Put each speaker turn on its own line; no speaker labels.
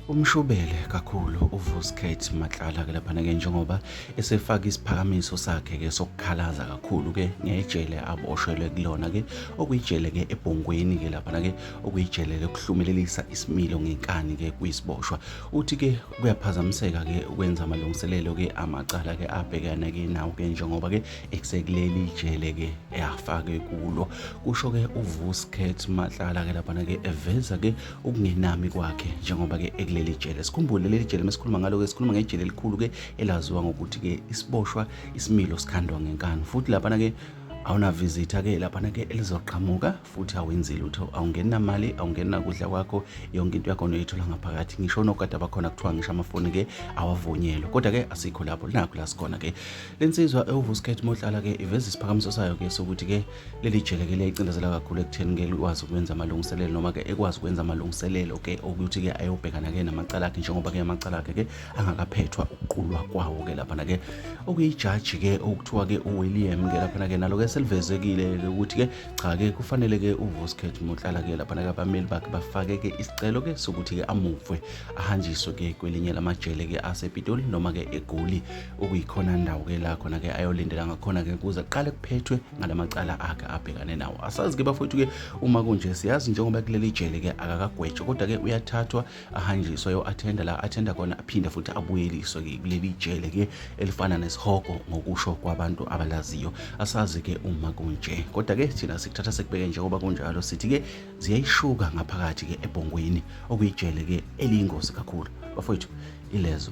Umshubele kakhulu uVuskate Matlala ke laphana ke njengoba esefaka isiphakamiso sakhe ke sokukhalaza kakhulu ke ngejele aboshelwe kulona ke okuyijele ke ebhongweni ke laphana ke okuyijele lokuhlumelelisa isimilo ngenkani ke kuyisiboshwa uthi ke kuyaphazamiseka ke ukwenza amalungiselelo ke amacala ke abhekana ke nawo ke njengoba ke ekusekuleli ijele ke eyafake kulo kusho ke uVusket Matlala ke lapha ke eveza ke ukungenami kwakhe njengoba ke ekuleli jele sikhumbule leli jele mesikhuluma ngalo ke sikhuluma ngejele elikhulu ke elaziwa ngokuthi ke isiboshwa isimilo sikhandwa ngenkani futhi lapha ke awunavizitha ke laphana ke elizoqhamuka futhi awenzi lutho awungeni namali awungeni nakudla kwakho yonke into yakho noyithola ngaphakathi ngisho nokade abakhona kuthiwa ngisho amafoni ke awavunyelwe kodwa ke asikho lapho linakho la sikhona ke Le nsizwa ewuVuskhet Motlala-ke iveza isiphakamiso sayo-ke sokuthi-ke leli jele ke liyayicindezela kakhulu ekutheni-ke likwazi ukwenza amalungiselelo noma-ke ekwazi ukwenza amalungiselelo-ke okuthi-ke ayobhekana-ke namacala akhe njengoba-ke amacala akhe-ke angakaphethwa ukuqulwa kwawo-ke laphana-ke okuyijaji-ke okuthiwa-ke uWilliam-ke laphana-ke nalo-ke selivezekile-ke ukuthi-ke cha-ke kufanele-ke uVuskhet Motlala-ke laphana-ke abameli bakhe bafake-ke isicelo-ke sokuthi-ke amuvwe ahanjiswe-ke kwelinye lamajele-ke asepitoli noma-ke egoli okuyikhona ndawo ke la khona ke ayolindela ngakhona ke kuze qale kuphethwe ngalamacala akhe abhekane nawo asazi ke bafowethu ke uma kunje siyazi njengoba kuleli jele ke akakagwetshwa kodwa ke uyathathwa ahanjiswa yo attenda la attenda khona aphinde futhi abuyeliswe ke kuleli jele ke elifana nesihogo ngokusho kwabantu abalaziyo asazi ke uma kunje kodwa ke thina sikuthatha sekubeke njengoba kunjalo sithi ke ziyayishuka ngaphakathi ke ebhongweni okuyijele ke eliyingozi kakhulu bafowethu ilezo